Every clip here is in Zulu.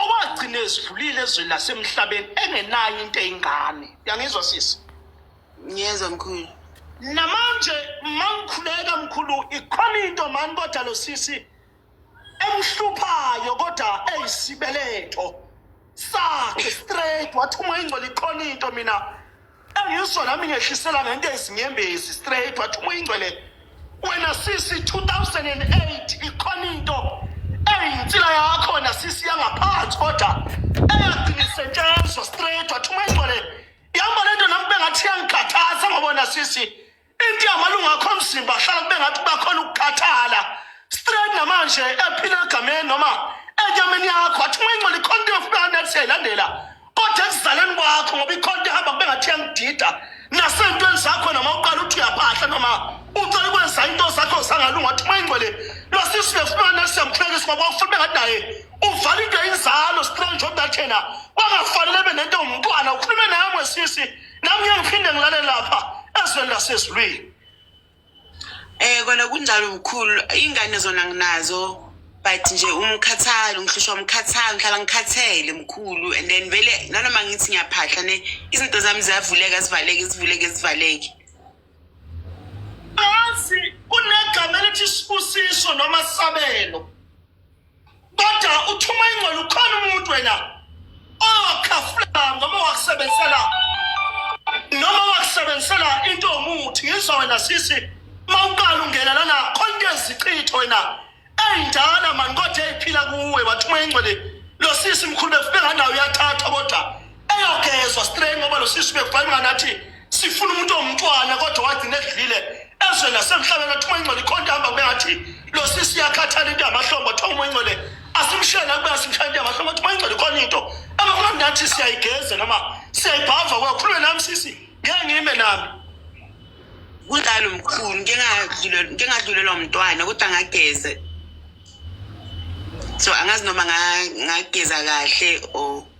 owagcina ezidlulile ezweni lasemhlabeni engenayo into eyingane uyangizwa sisi ngiyezwa mkhulu namanje mangikhuleka mkhulu ikhona into mani kodwa lo sisi emhluphayo kodwa eyisibeletho sakhe straight wathi uma ingcwele ikhona into mina Ngisho nami ngehlisela ngento ezinyembezi straight wathi uma ingcwele wena sisi 2008 ikhona into eyinsila yakho wena sisi yangaphansi kodwa eyaqinisetshenzwa straight wathi uma ingcwele ihamba lento nami bengathi yangikhathaza ngoba wena sisi into yamalungu akho omzimba hlala kube ngathi kuba khona ukukhathala straight namanje ephila egameni noma enyameni yakho athi uma ingcola ikhona into yofuna nethi siyayilandela kodwa ekuzaleni kwakho ngoba ikhona into ehamba kube ngathi iyangidida nasentweni zakho noma uqala uthi uyaphahla noma ucela ukwenza into zakho zangalunga athi uma ingcwele lwasisu befuna nethi siyamhlekisa ngoba ufuna bengathi naye uvala into yinzalo strange odathena bangafanele benento umntwana ukhulume naye mwesisi nami ngiyakuphinde ngilale lapha ezweni lasezulwini eh kona kunjalo mkhulu ingane zona nginazo but nje umkhathalo ngihlushwa umkhathalo ngihlala ngikhathele mkhulu and then vele nanoma ngithi ngiyaphahla ne izinto zami ziyavuleka zivaleke zivuleke zivaleke angazi kunegama elithi sibusiso noma sabelo kodwa uthuma ingcwele ukhona umuntu wena owakhafula noma wakusebenzisela noma wakusebenzisela into yomuthi ngizwa wena sisi uma uqala ungena lana khona into ezichitho wena ey'ndala mani kodwa ey'phila kuwe wathuma ingcwele lo sisi mkhulu befike nganawo uyathatha kodwa engagezwa straight ngoba lo sisi bekufanele nathi sifuna umuntu omntwana kodwa wagcina edlile ezwe nasemhlabeni athi umoyingcwele ikhona into ahamba kube ngathi lo sisi yakhathala into yamahlombo athiwa umoyingcwele asimshela kube asimshela into yamahlombo athi umoyingcwele ikhona into abakhona nathi siyayigeza noma siyayibhava kwakhulume nami sisi ngeke ngime nami kunjalo mkhulu ngingadlulelwa mntwana kodwa ngageze so angazi noma ngageza kahle or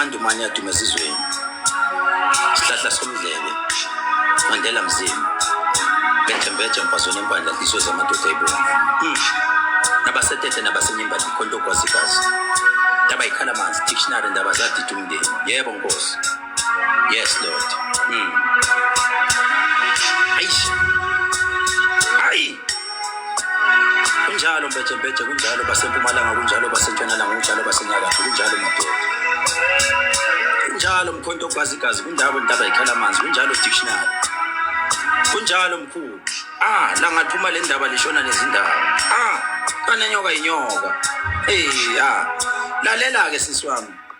Mandumane adume ezizweni sihlahla somdlebe mandela mzima bethembeja mfazweni empandla nhliziyo zamadoda ebomvu hmm. nabasetete nabasenyembali mkhonto ogwazikazi ndaba yikhala manzi dictionary ndaba zadida umndeni yebo nkosi Yes Lord. Mm. Aish. Ai. Kunjalo mbeje mbeje kunjalo basempumalanga kunjalo basentshonalanga kunjalo basenyakatho kunjalo madoda. Kunjalo mkhonto ogwazigazi kunjalo intaba ikhala amanzi kunjalo dictionary. Kunjalo mkhulu. Ah, la ngathuma le ndaba lishona nezindaba. Ah, kanenyoka inyoka. Eh, ah. Lalela ke sisi wami.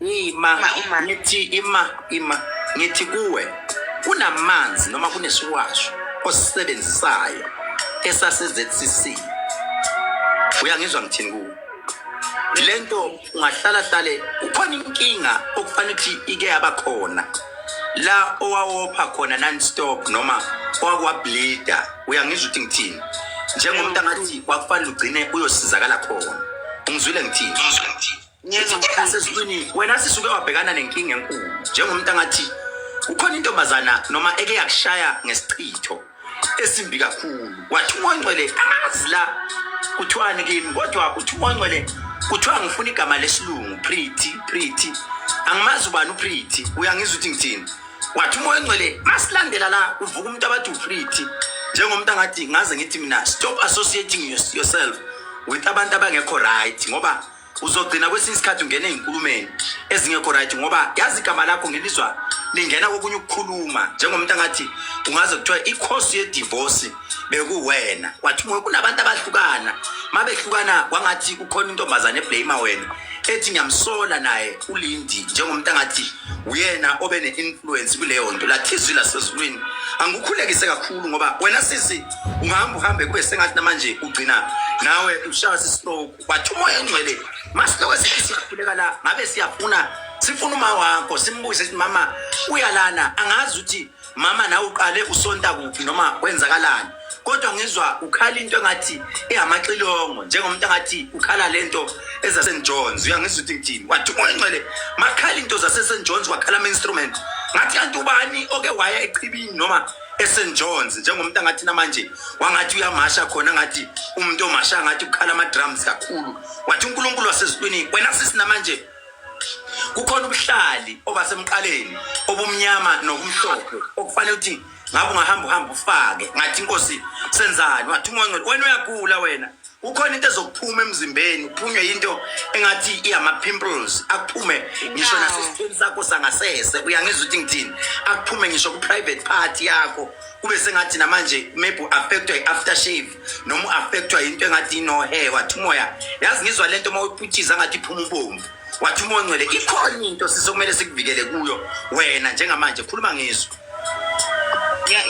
Ima, ngithi ima, ima, ngithi kuwe kunamanzi noma kunesiwasho osisebenzisayo esase-ZCC. Uyangizwa ngithini kuwe? Le nto ungahlala hlale ukhona inkinga okufanele ukuthi ike yaba khona la owawopha khona non-stop noma owakwableeda uyangizwa ukuthi ngithini njengomuntu angathi kwakufanele ugcine uyosizakala khona ungizwile ngithini Nyenza mkhansa esiqinile. Wena sisuke wabhekana nenkinga enkulu njengomuntu angathi kukhona intombazana noma eke yakushaya ngesichitho esimbi kakhulu. Wathi umoncwele angazi la kuthiwani kimi kodwa uthi umoncwele kuthiwa ngifuna igama lesilungu pretty pretty. Angimazi ubani upretty. Uyangizwa ukuthi ngithini? Wathi umoncwele masilandela la uvuka umuntu abathi upretty njengomuntu angathi ngaze ngithi mina stop associating yourself with abantu abangekho right ngoba uzogcina kwesinye isikhathi ungena ezinkulumeni ezingekho right ngoba yazi igama lakho ngelizwa lingena kokunye ukukhuluma njengomuntu angathi ungaze kuthiwa ikhosi yedivorce bekuwena wathi kunabantu abahlukana mabehlukana kwangathi kukhona intombazane eblame wena ethi ngiyamsola naye ulindi njengomuntu angathi uyena obe ne-influence kuleyo nto lathizwi lasezulwini angikukhulekise kakhulu ngoba wena sisi ungahamba uhambe kube sengathi namanje ugcina nawe ushaya sistroke wathi umoya ongcwele masiloko sithi siyakhuleka la ngabe siyafuna sifuna uma wakho simbuze sithi mama uyalana angazi ukuthi mama nawe uqale usonta kuphi noma kwenzakalani kodwa ngizwa ukhala into engathi ihamaxilongo njengomuntu angathi ukhala lento ezaSt John's uyangizwa ukuthi ngithini wathi umoya ongcwele makhala into zaseSt John's wakhala ama instrument ngathi kanti ubani oke waya echibini noma eSt John's njengomuntu angathi namanje wangathi uyamasha khona ngathi umuntu omasha ngathi ukhala ama drums kakhulu wathi uNkulunkulu wasezulwini wena sisi namanje kukhona ubuhlali obasemqaleni obumnyama nokumhlophe okufanele ukuthi ngabe ungahamba uhamba ufake ngathi inkosi senzani wathi umoya wena uyagula wena kukhona into ezokuphuma emzimbeni uphunywe yinto engathi iyama-pimples akuphume ngisho nasesithweni sakho sangasese uyangizwa ukuthi ngithini akuphume ngisho ku-private party yakho kube sengathi namanje maybe u-affectwa i-after shave noma u-affectwa yinto engathi inohe wathi umoya yazi ngizwa le nto uma uyiphuthiza ngathi iphuma ubomvu wathi umoya ongcwele ikhona into sisokumele sikuvikele kuyo wena njengamanje khuluma ngizwa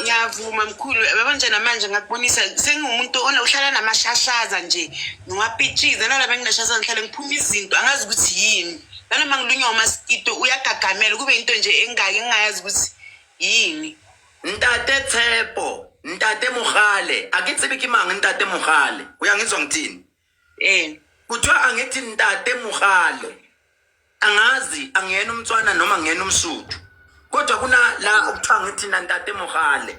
ngiyavuma mkhulu yabo nje namanje ngakubonisa sengiwumuntu uhlala namashashaza nje ngiwapitshize nala benginashashaza ngihlale ngiphuma izinto angazi ukuthi yini nanoma ngilunywa umaskito uyagagamela kube into nje engaki engingayazi ukuthi yini ntate tshepo ntate mogale a ke tsebe ke mang ntate mogale o yang e tswang tini Eh. Kuthiwa angithi ntate Mugale. Angazi angiyena umtswana noma ngiyena umsuthu. Kodwa kuna la okuthiwa ngithi ntate Mugale.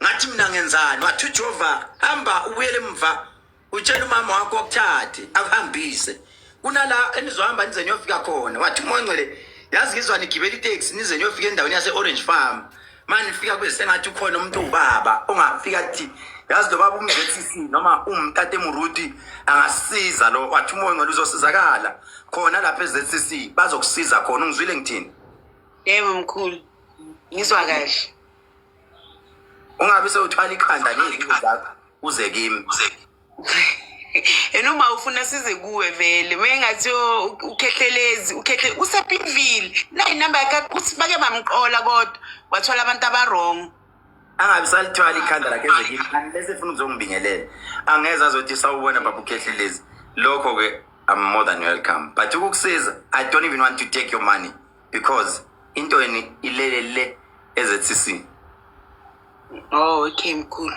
Ngathi mina ngenzani? Wathi uJehova hamba ubuyele emva. Utshela umama wakho okuthathe akuhambise. Kunala enizohamba nize niyofika khona. Wathi uMongcele yazi ngizwa nigibela itaxi nize niyofika endaweni yase Orange Farm. manje fika kube sengathi ukhona umuntu ubaba ongafika athi yazi lo baba umzethc noma umtate muruti angasiza lo wathi umoya ngalo uzosizakala khona lapha ezethc bazokusiza khona ungizwile ngithini yebo mkhulu ngizwa kahle ungabe sewuthwala ikhanda ngezinto zakho uze kimi yena uma ufuna size kuwe vele mengathi ukhehlelezi ukhehle usepinville nayi namba yakhe uthi bake bamqola kodwa wathola abantu abarong angabi salithwala ikhanda lakhe ezekile unless efuna ukuzongibingelela angeze azothi sawubona baba ukhehlelezi lokho-ke i'm more than welcome but ukukusiza i don't even want to take your money because into yeni ilele le ezethisi oh okay mkhulu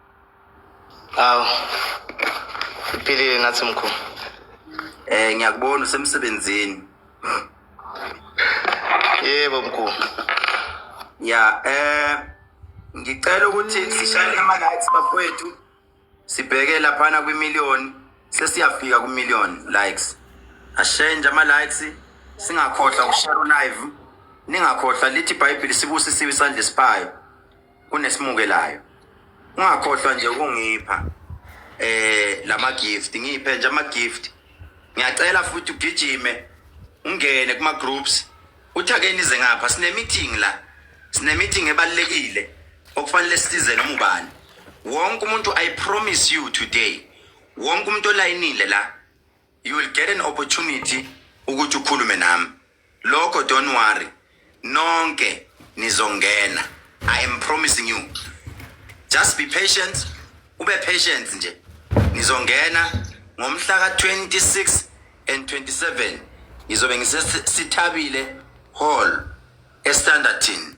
Awu. Iphilile nathi mkhulu. Eh ngiyakubona usemsebenzini. Yebo mkhulu. Ya eh ngicela ukuthi sishayele ama lights bafowethu. Sibheke laphana kwi million sesiyafika ku million likes. Ashenje ama likes singakhohlwa ukushare live. Ningakhohlwa lithi iBhayibheli sibusisiwe isandla esiphayo. kunesimukelayo ungakhohlwa nje ukungipha eh lama gift ngiphe nje ama gift ngiyacela futhi ugijime ungene kuma groups uthi ake nize ngapha sine meeting la sine meeting ebalekile okufanele size noma ubani wonke umuntu i promise you today wonke umuntu olayinile la you will get an opportunity ukuthi ukhulume nami lokho don't worry nonke nizongena i am promising you just be patient ube patient nje nizongena ngomhla ka 26 and 27 ngizobe ngisesithabile hall estandartin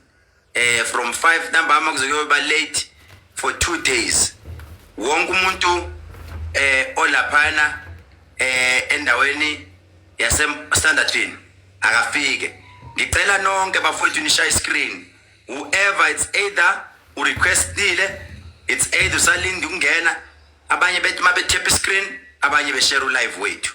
eh from 5 ntambama kuzokuyoba late for 2 days wonke umuntu eh olaphana eh endaweni yase standardville akafike ngicela nonke bafowethu nishaye screen whoever it's either u requestile it's either usalinde ukungena abanye bethi mabethepha screen abanye beshare u live wethu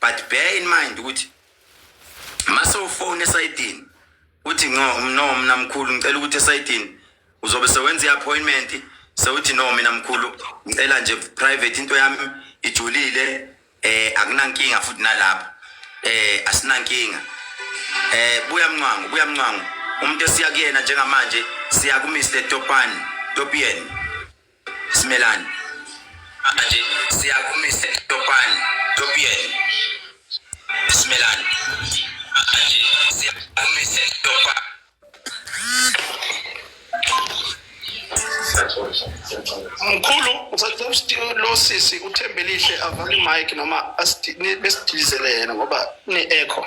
but bear in mind ukuthi mase ufone esayidini uthi no no mina mkhulu ngicela ukuthi esayidini uzobe sewenza i-appointment sewuthi no mina mkhulu ngicela nje private into yami ijulile eh akunankinga futhi nalapha eh asinankinga eh buya mncwango buya mncwango umuntu esiya kuyena njengamanje siya ku Mr Topani Topian Simelani. Manje siyakumisa Topani, Topien. Simelani. Manje siyakumisa Topani. Mkhulu usathi lo sisi uthembelihle avale mic noma besidilizele yena ngoba ne echo.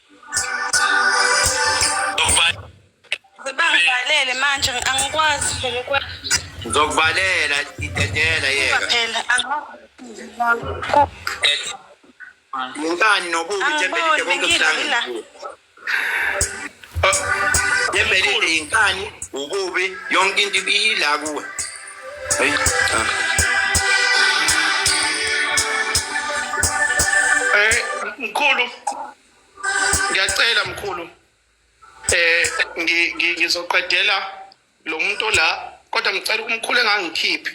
Bangivalele manje angikwazi phela ukwenza. Ngizokuvalela idedela yeka. Phela angikwazi. Ngani nobubi Angiboni, bengidlile la. Yembelile yinkani ububi yonke into iyila kuwe. Hey. Eh, mkhulu ngiyacela mkhulu eh ngizoqedela lo muntu la kodwa ngicela umkhulu engangikhiphi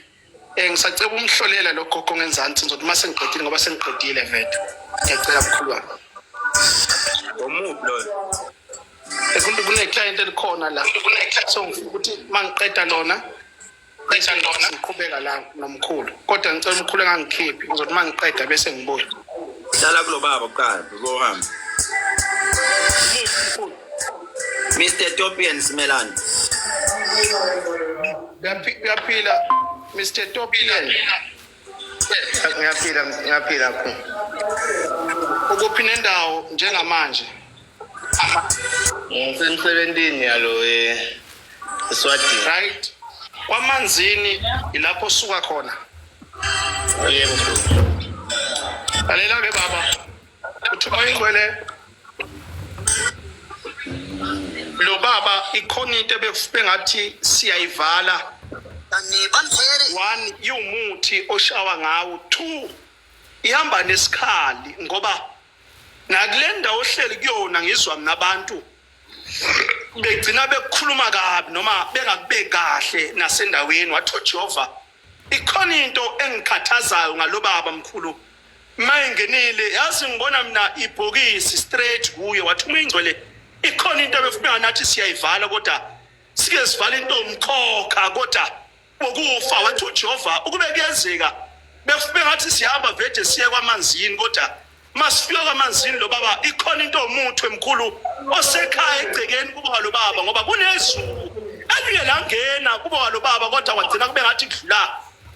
eh ngisacela umhlolela lo gogo ngenzansi ngizothi uma sengiqedile ngoba sengiqedile vete ngiyacela mkhulu wami ngomubi loyo kuneclient elikhona la so ngifuna ukuthi uma ngiqeda lona bese ngibona ngiqhubeka la nomkhulu kodwa ngicela umkhulu engangikhiphi ngizothi uma ngiqeda bese ngibuya dlala kulo baba kuqala uzohamba Mr Topian Simelani uyaphila Mr Topian ngiyaphila ngiyaphila ku ukuphi nendawo njengamanje ngisemsebentini yalo eswadini right kwamanzini ilapho osuka khona yebo lalela ke baba Uthuma ingwele. Lo baba ikhona into ebebengathi siyayivala. One iwumuthi oshawa ngawo. Two ihamba nesikhali ngoba nakule ndawo ohleli kuyona ngizwa mina abantu begcina bekukhuluma kabi noma bengakubeki kahle nasendaweni wathi uJehova Ikhona into engikhathazayo ngalobaba mkhulu mayingenile yazi ngibona mina ibhokisi straight kuye wathi uma ingcwele ikhona into ebefuna nathi siyayivala kodwa sike sivala into umkhokha kodwa ukufa wathi uJehova ukube kuyenzeka befuna ngathi sihamba vede siye kwamanzini kodwa Masifika kwamanzini lo baba ikhona into omuthi emkhulu osekhaya egcekeni kuba lo baba ngoba kunezulu elike langena kuba lo baba kodwa kwagcina kube ngathi kudlula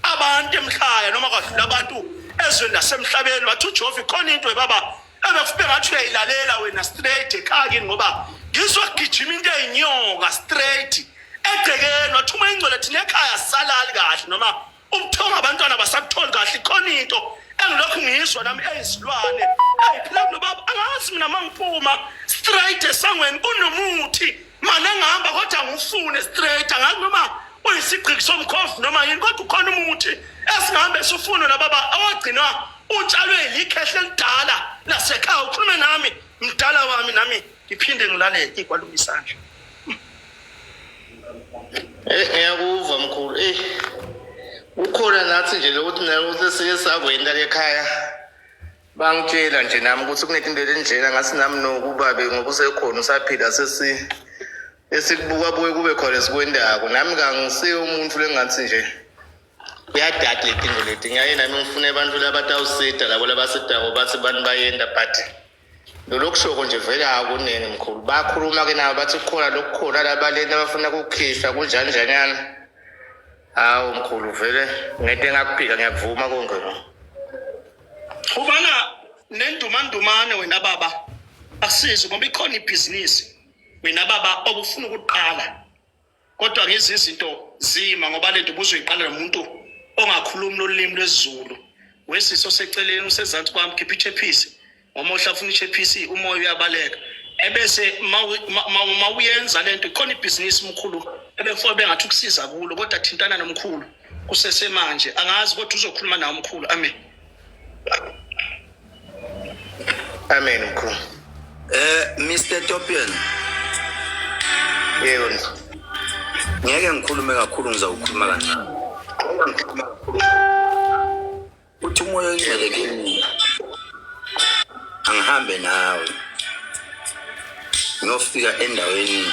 abantu emhlaya noma kwadlula abantu ezweni lasemhlabeni wathi uJehova ikhona into ebaba ebekufe ngathi uyayilalela wena straight ekhaya kini ngoba ngizogijima into eyinyoka straight egcekeni wathi uma ingcwele thina ekhaya salali kahle noma ubuthongo abantwana basakutholi kahle ikhona into engilokhu ngiyizwa nami eyizilwane eyiphila kulo baba angazi mina mangiphuma straight esangweni kunomuthi mane ngihamba kodwa ngifune straight angazi noma uyisigqiki somkhovu noma yini kodwa ukhona umuthi esingahambe sifunwe nababa awagcinwa utshalwe yikhehle elidala lasekhaya ukhulume nami mdala wami nami ngiphinde ngilale ikwaluma isandla eh ngiyakuva mkhulu eh ukhona nathi nje lokuthi nayo ukuthi sike sakwenda lekhaya bangitshela nje nami ukuthi kunetinto lenjena ngathi nami nokubabe ngoba usekhona usaphila sesi esikubuka buye kube khona esikwendako nami kangisiye umuntu lengathi nje kuyadada letinto leti ngiyaye nami ngifune abantu labatawusida labo labasidako bathi bantu bayenda but Lolokushoko nje vele akuningi mkhulu. Bakhuluma ke nabo bathi kukhona lokukhona labaleni abafuna kukhishwa kunjanjanyana. Hawu mkhulu vele ngento engakuphika ngiyakuvuma konke lo. Ubana nendumandumane wena baba asizi ngoba ikhona ibhizinisi wena baba obufuna ukuqala kodwa ngezi zinto zima ngoba lento ubuzoyiqala nomuntu ongakhulumi lolimi lwesiZulu wesiso seceleni usezansi kwami khipha ichephisi ngoba uhlafuna ichephisi umoya uyabaleka ebese uma uyenza lento khona ibhizinisi mkhulu ebekufanele bengathi ukusiza kulo kodwa thintana nomkhulu kusesemanje angazi kodwa uzokhuluma nawo mkhulu amen Amen mkhulu. Eh Mr Topian. Yebo. Ngeke ngikhulume kakhulu ngizawukhuluma kancane. Ngikhuluma kakhulu. Uthi umoya ongcwele kimi. Angihambe nawe. Ngiyofika endaweni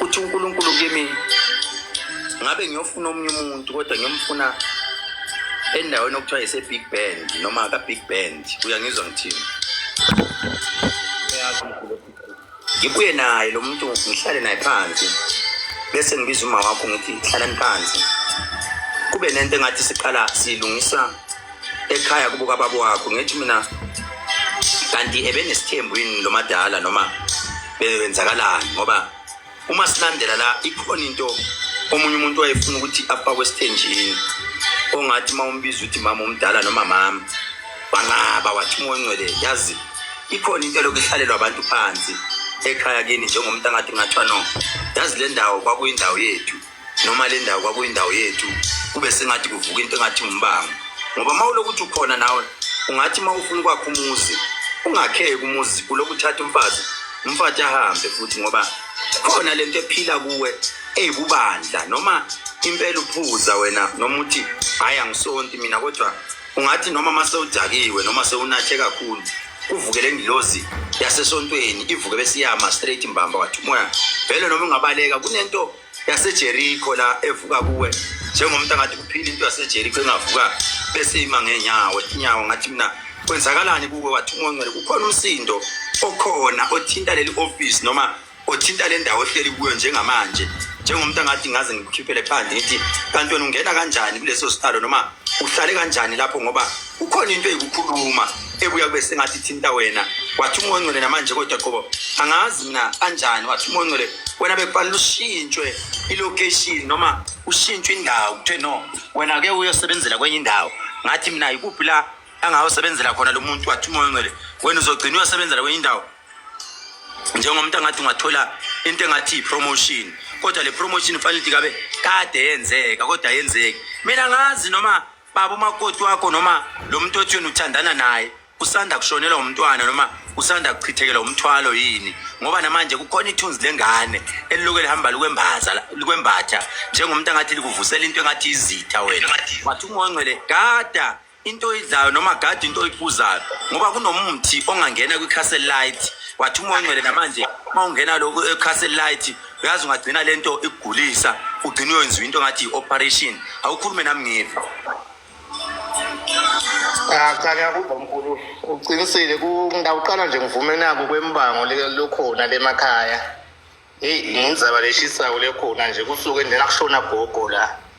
uthi uNkulunkulu kimi ngabe ngiyofuna omunye umuntu kodwa ngiyomfuna endaweni okuthiwa yise-big band noma ka-big band uyangizwa ngithini ngibuye naye lo muntu ngihlale naye phansi bese ngibiza uma wakho ngithi hlalani phansi kube nento engathi siqala siyilungisa ekhaya kubo kababa wakho ngithi mina kanti ebenesithembu yini lo madala noma bewenzakalani ngoba uma silandela la ikhona into omunye umuntu wayefuna ukuthi afakwe esithenjini ongathi uma umbiza ukuthi mama omdala noma mama wanqaba wathi umoya ongcwele yazi ikhona into elokhu ihlalelwa abantu phansi ekhaya kini njengomuntu angathi ngathiwa no yazi le ndawo kwakuyindawo yethu noma le ndawo kwakuyindawo yethu kube sengathi kuvuka into engathi umbango ngoba uma ulokuthi ukhona nawe ungathi uma ufuna ukwakha umuzi ungakheki umuzi uloku uthatha umfazi umfathi ahambe futhi ngoba khona le nto ephila kuwe eyibubandla noma impela uphuza wena noma uthi hhayi angisonti mina kodwa ungathi noma uma sewudakiwe noma sewunathe kakhulu kuvuke le ngilozi yasesontweni ivuke besiyama straight mbamba wathi umoya vele noma ungabaleka kunento yasejerikho la evuka kuwe njengomuntu angathi kuphila into yasejerikho engavuka bese ima ngeenyawo inyawo ngathi mina kwenzakalani kuwe wathi ungongcwele kukhona umsindo okhona othinta leli office noma othinta le ndawo ohleli kuyo njengamanje njengomuntu angathi ngaze ngikukhiphele phandle ngithi kanti wena ungena kanjani kuleso sihlalo noma uhlale kanjani lapho ngoba kukhona into eyikukhuluma ebuya kube sengathi ithinta wena wathi umoya ongcwele namanje kodwa qobo angazi mina kanjani wathi umoya ongcwele wena bekufanele ushintshwe ilocation noma ushintshwe indawo kuthiwe no wena ke uyosebenzela kwenye indawo ngathi mina yikuphi la angawusebenzela khona lo muntu wathi umoya ongcwele wena uzogcina uyosebenzela kwenye indawo njengomuntu angathi ungathola into engathi i-promotion kodwa le promotion fanele ukuthi kabe kade yenzeka kodwa yenzeki mina ngazi noma baba umakoti wakho noma lo muntu othi yena uthandana naye usanda kushonelwa umntwana noma usanda kuchithekelwa umthwalo yini ngoba namanje kukhona ithunzi lengane eliloku elihamba likwembaza likwembatha njengomuntu angathi likuvusela into engathi izitha wena wathi ungongcwele gada into oyidlayo noma gada into oyiphuzayo ngoba kunomuthi ongangena kwi-castle light wathi ungongcwele namanje uma ungena lokhu e-castle light uyazi ungagcina le nto ikugulisa ugcina uyenziwa into ngathi yi-operation awukhulume nami ngive ah, cha ngiyakuva mkhulu uqinisile ngawuqala nje ngivume nako kwembango lokhona lemakhaya heyi nginzaba leshisayo lekhona nje kusuke ndinakushona gogo la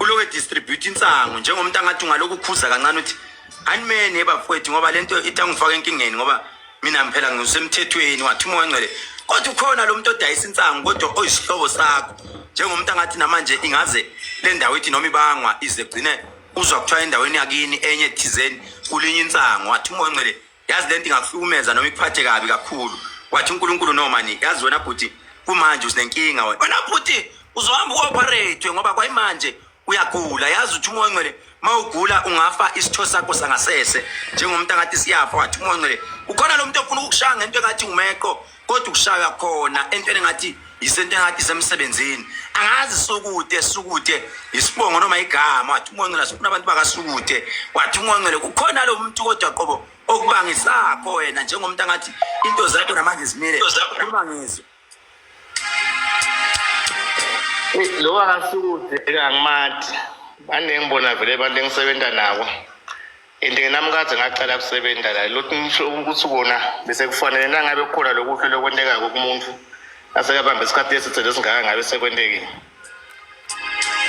uloke distribute insangu njengomuntu angathi ungaloku khuza kancane uthi animeni ebafowethu ngoba lento itangifaka enkingeni ngoba mina mphela ngisemthethweni wathi umoya ngcwele kodwa ukhona lo muntu odayisa insangu kodwa oyisihlobo sakho njengomuntu angathi namanje ingaze le ndawo ithi noma ibangwa ize gcine uzwa kuthiwa endaweni yakini enye thizeni kulinye insangu wathi umoya ngcwele yazi lento ingakuhlukumeza noma ikuphathe kabi kakhulu wathi uNkulunkulu no mani yazi wena bhuti kumanje usinenkinga wena wena bhuti uzohamba uoperate ngoba kwayimanje uyagula yazi uthi umoya ongcwele mawugula ungafa isitho sakho sangasese njengomuntu angathi siyafa wathi umoya ongcwele ukhona lo muntu ofuna ukukushaya ngento engathi umeqo kodwa ukushaywa khona entweni engathi yisento engathi isemsebenzini angazi sukude sukude yisibongo noma igama wathi ungongcela sifuna abantu bakasukude wathi ungongcele kukhona lo muntu kodwa qobo okubangisakho wena njengomuntu angathi into zakho namanje zimile khuluma ngizwe lo akasukude kangimathi baningi bona vele abantu engisebenza nabo and nami kade ngaqala kusebenza la lothi ngisho ukuthi kona bese kufanele nangabe kukhona lokuhle lokwentekayo kumuntu asekabambe isikhathi esithele esingaka ngabe sekwentekile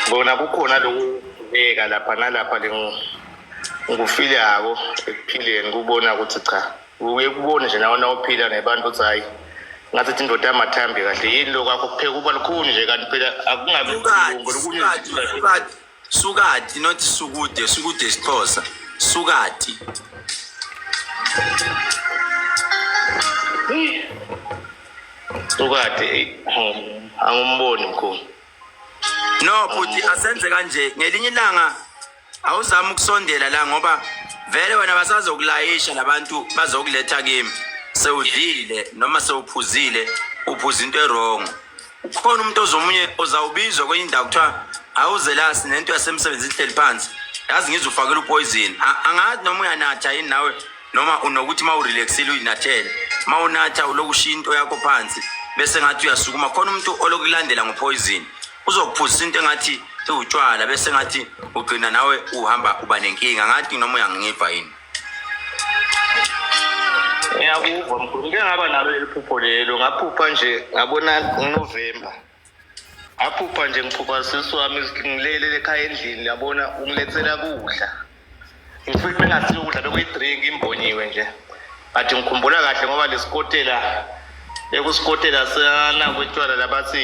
kona kukhona lokubeka lapha nalapha ngikufile yako ekuphileni kubona ukuthi cha uye kubone nje nawe nawuphila nebantu ukuthi hhayi ngathi ithi indoda yamathambi kahle yini lokho akho kupheka uba lukhuni nje kanti phela akungabi Sukati, not sukude. Sukude is Xhosa. Sukati. Sukati, angimboni mkhulu. No, bhuti asenze kanje. Ngelinye ilanga awuzama ukusondela la ngoba vele wena basazokulayisha labantu bazokuletha kimi. Sewudlile noma sewuphuzile, uphuza into erongo. Ukhona umuntu ozomunye ozawubizwa kwenye indawo kuthiwa awuzelasi nento yasemsebenzi ihleli phansi yazi ngizwe ufakela upoison angazi noma uyanatha yini nawe noma unokuthi uma urelaxile uyinathele uma unatha uloku ushiya into yakho phansi bese ngathi uyasukuma khona umuntu olokulandela ngopoison uzokuphuzisa into engathi iwutshwala bese ngathi ugcina nawe uhamba uba nenkinga ngathi noma uyangiva yini ngiyakuva mkhulu ngike ngaba nalo leli phupho lelo ngaphupha nje ngabona unovemba aphupha nje ngiphupha sisi wami ngilelele ekhaya endlini yabona ungilethela kudla ngifike bengasiyo ukudla bekuyi-drink imbonyiwe nje but ngikhumbula kahle ngoba lesikotela bekusikotela sanakwetshwala labathi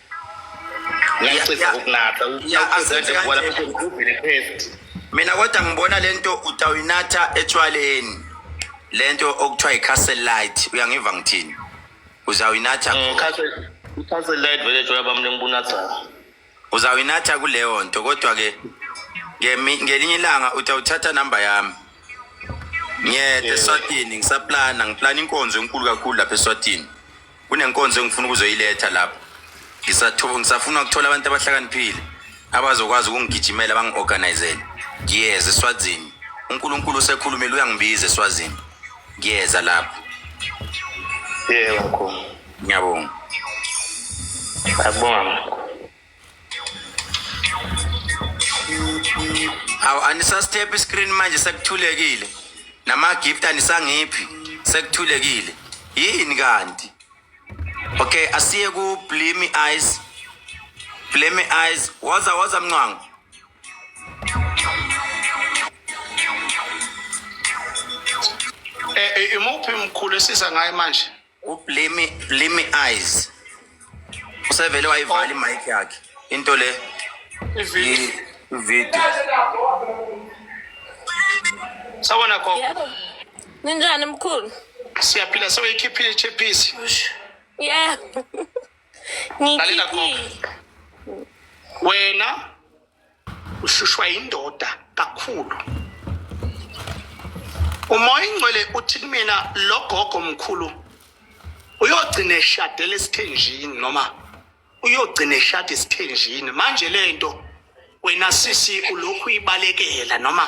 ngiyacisa ukunatha mina kodwa ngibona lento utawuyinatha etshwaleni lento okuthiwa i-castle light uyangiva ngithini uzawuyinatha mm, i-castle light vele tshwala bami lengibunathayo uzawuyinatha kuleyo nto kodwa-ke ngelinye ilanga utawuthatha namba yami ngiyede eswatini ngisaplana ngiplana inkonzo enkulu kakhulu lapha eswatini kunenkonzo engifuna ukuzoyiletha lapho ngisathuba ngisafuna ukuthola abantu abahlakaniphile abazokwazi ukungigijimela bangi-organizele ngiyeza eswazini unkulunkulu usekhulumile uyangibiza eswazini ngiyeza lapho yebo mkhulu ngiyabonga akubonga mkhulu awu anisasithephi iscreen manje sekuthulekile nama-gift anisangiphi sekuthulekile yini kanti okay asiye ku-blimi eyes blimi eyes woza woza mncwango Eh, eh imuphi mkhulu esiza ngaye manje ublimi blimi eyes usevele wayivala imic yakhe into le ivideo sawona khokho ninjani mkhulu siyaphila sewuyikhiphile ichephisi yeah lalela khokho wena ushushwa yindoda kakhulu umoya ingcwele uthi kumina lo gogo mkhulu uyogcina eshadela esithenjini noma uyogcina eshada esithenjini manje le nto wena sisi ulokhu uyibalekela noma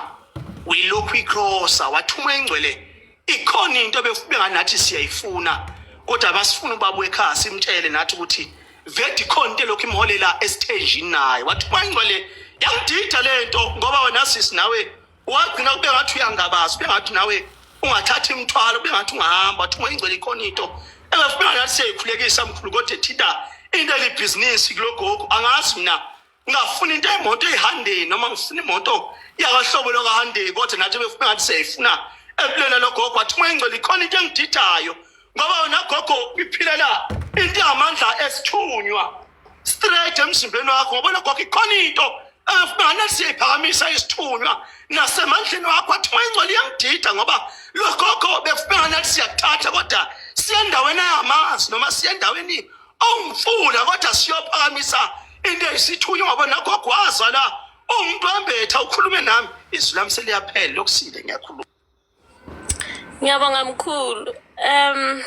uyilokhu ikrosa wathi uma ingcwele ikhona into befubeka nathi siyayifuna kodwa basifuna ubaba wekhaya simtshele nathi ukuthi vedi khona into lokhu imholela esithenjini naye wathi kwangcwele yangidida le nto ngoba wena sisi nawe wagcina kube ngathi uyangabaza kube ngathi nawe ungathatha imithwalo kube ngathi ungahamba wathi uma ingcwele ikhona into engafubeka nathi siyayikhulekisa mkhulu kodwa thina into elibhizinisi kulogogo angazi mina ngafuna into imoto eyihandeni noma ngifuna imoto yakahlobo lokahandeni kodwa nathi befuna ngathi siyayifuna empilweni logogo wathi uma ingcwele ikhona into engidithayo ngoba wena gogo iphilela into yamandla esithunywa straight emzimbeni wakho ngoba logogo ikhona into engifuna siyayiphakamisa isithunywa nasemandleni wakho wathi uma ingcwele iyangidida ngoba logogo befuna ngathi siyakuthatha kodwa siyendaweni ayamazi noma siyendaweni awumfuna kodwa siyophakamisa into eyisithunywa ngoba nakho gwaza la umuntu wembetha ukhulume nami izwi lami seliyaphela lokusile ngiyakhuluma ngiyabonga mkhulu um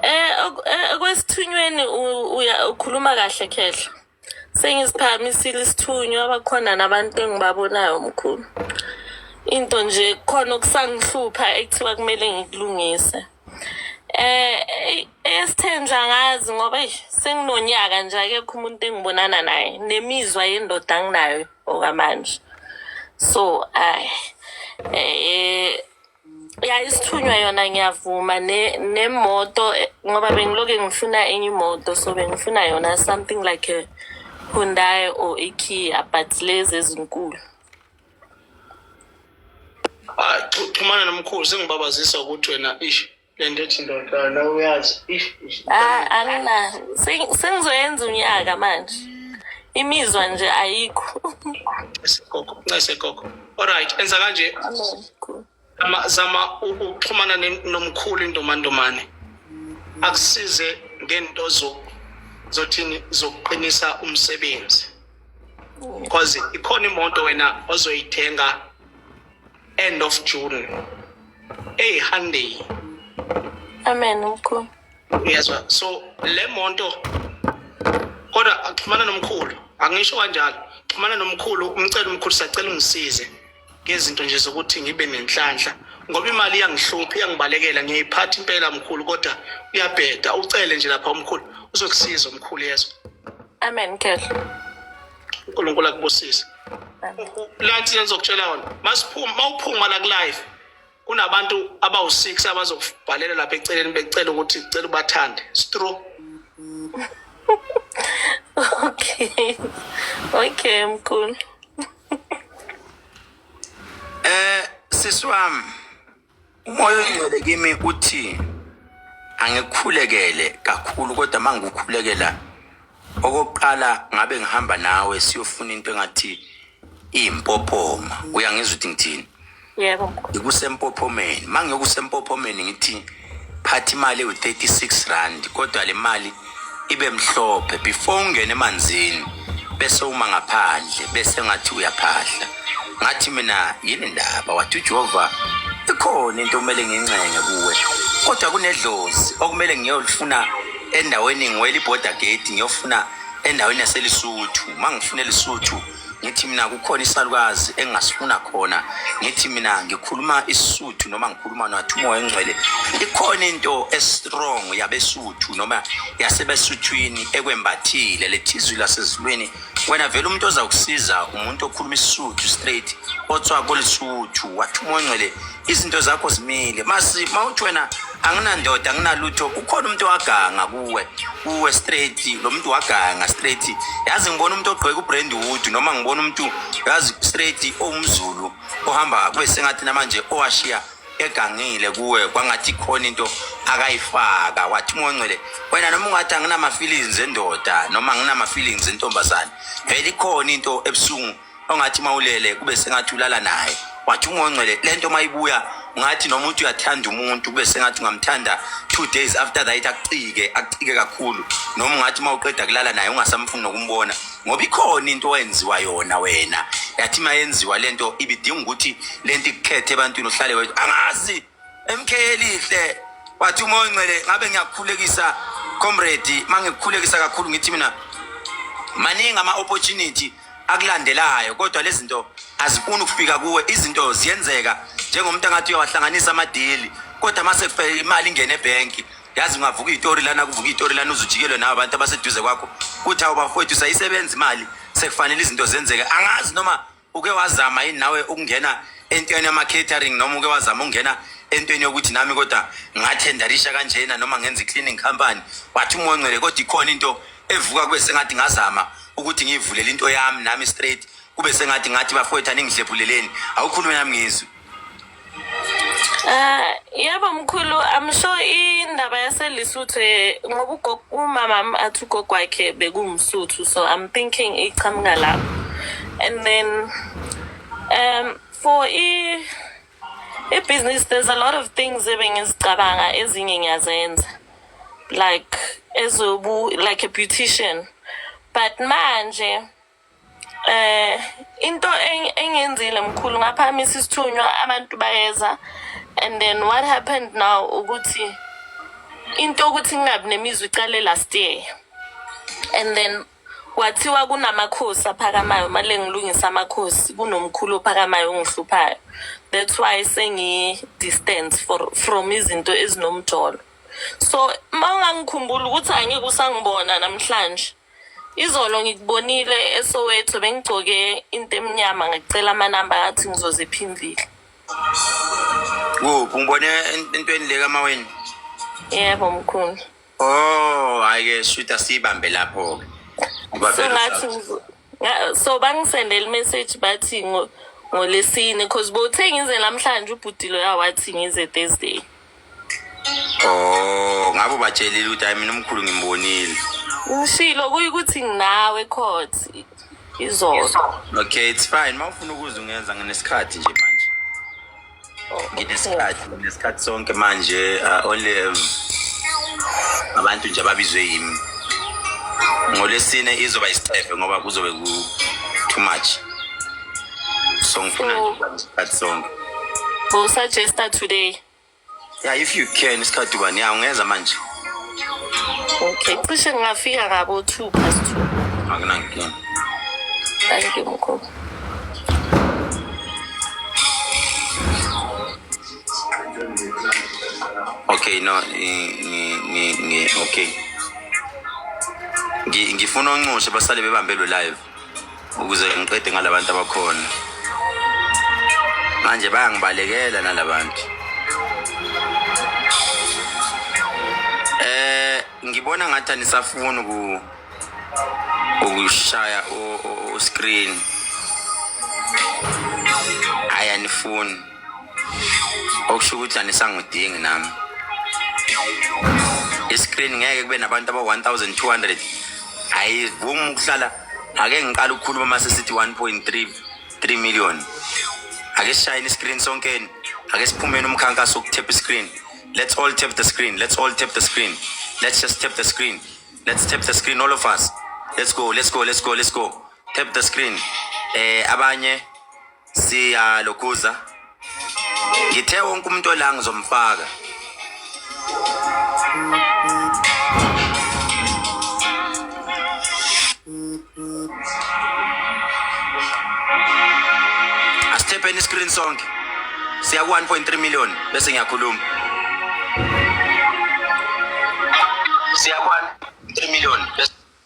eh, eh okwesithunyweni ukhuluma kahle khehla Sengisiphakamisile isithunywa bakhona nabantu engibabonayo mkhulu. Into nje khona okusangihlupha ekuthiwa kumele ngikulungise. Eh esithenja ngazi ngoba eish, senginonyaka nje akekho umuntu engibonana naye nemizwa yendoda anginayo okwamanje. So ay eh ya isithunywa yona ngiyavuma ne- nemoto eh, ngoba bengiloke ngifuna enye imoto so bengifuna yona something like a hyundai or ikia but lezi ezinkulu Ah, xhu- xhumana nomkhulu sengibabazisa ukuthi wena ish lento ethi ndoda la uyazi if ah, angina sengizoyenza unyaka manje imizwa nje ayikho segogo ncese gogo alright enza kanje ama zama ukuxhumana nomkhulu indomandomane akusize ngento zo zothini zokuqinisa umsebenzi because ikhona imoto wena ozoyithenga end of june eyi handeyi amen mkhulu uyezwa so le monto kodwa axhumana nomkhulu angisho kanjalo xhumana nomkhulu umcela umkhulu sacela ungisize ngezinto nje zokuthi ngibe nenhlanhla ngoba imali iyangihlupha iyangibalekela ngiyayiphatha impela mkhulu kodwa uyabheda ucele nje lapha umkhulu uzokusiza umkhulu yezwa amen kehla unkulunkulu akubusise lanti lengizokutshela yona masiphuma mawuphuma la kulive kunabantu abawu-six abazokubhalela lapha eceleni becela ukuthi cela ubathande stru okay okay mkhulu eh siswami umoya oyingcwele kimi uthi angikhulekele kakhulu kodwa uma ngikukhulekela okokuqala ngabe ngihamba nawe siyofuna into engathi iyimpophoma uyangizwa ukuthi ngithini yebo ngikusempophommeni uma ngiyokusempophommeni ngithi phatha imali ewu-36 rand kodwa le mali ibe mhlophe before ungene emanzini bese uma ngaphandle bese ngathi uyaphahla ngathi mina yini ndaba wathi uJehova ikhona into okumele ngincenge kuwe kodwa kunedlozi okumele ngiyolifuna endaweni ngiwela iborder gate ngiyofuna endaweni yaselisuthu uma ngifuna elisuthu ngithi mina kukhona isalukazi engingasifuna khona ngithi mina ngikhuluma isisuthu noma ngikhuluma nathi umoya engcwele ikhona into estrong yabesuthu noma yasebesuthwini ekwembathile lethizwi lasezulwini wena vele umuntu oza kusiza umuntu okhuluma isisuthu straight otswa kolisuthu wathi umoya engcwele izinto zakho zimile masi mawuthi wena anginandoda anginalutho ukhona umuntu owaganga kuwe kuwe straight lo muntu waganga straight yazi ngibona umuntu ogqoke ubrand wood noma ngibona umuntu yazi straight owumzulu ohamba kube sengathi namanje owashiya egangile kuwe kwangathi khona into akayifaka wathi mongcwele wena noma ungathi anginama-feelings endoda noma anginama-feelings entombazane vele ikhona into ebuhlungu ongathi mawulele kube sengathi ulala naye wathi ungongcwele lento mayibuya ngathi noma uthi uyathanda umuntu kube sengathi ungamthanda two days after that akucike akucike kakhulu noma ungathi uma uqeda kulala naye ungasamfuni nokumbona ngoba ikhona into oyenziwa yona wena yathi uma yenziwa lento ibidinga ukuthi lento ikukhethe ebantwini uhlale wethu angazi MK elihle wathi uma oncele ngabe ngiyakukhulekisa comrade mangikukhulekisa kakhulu ngithi mina maningi ama opportunity akulandelayo kodwa lezinto azifuni ukufika kuwe izinto ziyenzeka njengomuntu angathi uyawahlanganisa amadili kodwa mase kufike imali ingene ebhenki yazi ungavuka itori lana kuvuka itori lana uzujikelwe nawo abantu abaseduze kwakho kuthi awubafowethu sayisebenza imali sekufanele izinto zenzeke angazi noma uke wazama yini nawe ukungena entweni yama-catering noma uke wazama ukungena entweni yokuthi nami kodwa ngathendarisha kanjena noma ngenza i-cleaning company wathi umoya ongcwele kodwa ikhona into evuka kube sengathi ngazama ukuthi ngiyivulele into yami nami straight kube sengathi ngathi bafowethu aningihlephuleleni awukhulume nami ngizwe Ah, yebo mkhulu i'm sure indaba yaselisuthu eh, ngoba ugogo umama wami athi ugogo wakhe bekungumsuthu so i'm thinking iqhamuka lapho and then um for i i-business there's a lot of things ebengizicabanga ezinye ngiyazenza like ezobu like a beautician but manje eh into engenzile mkhulu ngaphamisa isithunywa abantu bayeza and then what happened now ukuthi into ukuthi ngingabi nemizwa iqale last year and then kwathiwa kunamakhosi aphakamayo male ngilungisa amakhosi kunomkhulu ophakamayo ongihluphayo that's why sengi-distance from izinto ezinomjolo so uma ungangikhumbuli ukuthi angeke usangibona namhlanje Izolo ngikubonile eSoweto bengigcoke into emnyama ngicela amanamba athi ngizoziphimvile. Kuphi ngibone entweni le kamaweni? Yebo mkhulu. Oh, hayi ke sweet asibambe lapho ke. Ngoba So vele ngathi ngizo- nga- so bangisendele message bathi ngo- ngolesine cause bothe ngize namhlanje ubhudilo yawathi ngize Thursday. Oh, ngabe ubatshelile ukuthi hayi mina umkhulu ngimbonile. Ngishilo kuyi ukuthi nginawe court izolo. Okay, it's fine. Mawufuna ukuza ungenza nginesikhathi nje manje. Nginesikhathi, nginesikhathi sonke manje uh, only um, abantu nje ababizwe yimi. Ngolesine izoba isicefe ngoba kuzobe ku too much. so ngifuna So- nje ukuba isikhathi sonke We'll suggest that today. yeah if you can isikhathi ubani ya ungeza manje Okay. Cishe ngingafika ngabo two past two. akunankinga Thank you, Mkhulu. okay no ni- ni- ni- ni- okay Ngi- ngifuna onxushe basale bebambe lo live ukuze ngiqede ngalabantu abakhona manje bayangibalekela nalabantu eh ngibona ngathi anisafuni ku ukushaya o screen ayanifuni okusho ukuthi anisangidingi nami iscreen ngeke kube nabantu aba-1200 ayivumi ukuhlala ake ngiqala ukukhuluma uma sesithi 1.3 3 million ake sishayeni iscreen sonkeni ake siphumeni umkhankaso wokuthepha iscreen let's all tap the screen let's all tap the screen let's just tap the screen let's tap the screen all of us let's go let's go let's go let's go tap the screen eh abanye siyalokhuza ngithe wonke umuntu ola ngizomfaka asithepeni iscreen sonke siya ku-1.3 million bese ngiyakhuluma siya ku-1.3 million bese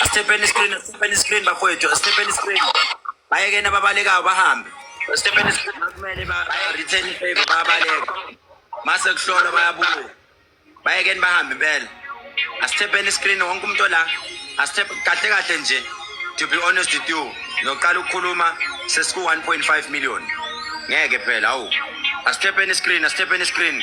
Asithepheni screen, asithepheni screen bakwethu, asithepheni screen. Bayekeni ababalekayo bahambe. Asithepheni screen kumele ba return favor bayabaleka. Mase kuhlolwa bayabuya. Bayekeni bahambe impela. Asithepheni screen wonke umuntu la. Asithephe kahle kahle nje. To be honest with you, ngiyoqala ukukhuluma sesiku 1.5 million. Ngeke phela awu. Asithepheni screen, asithepheni screen.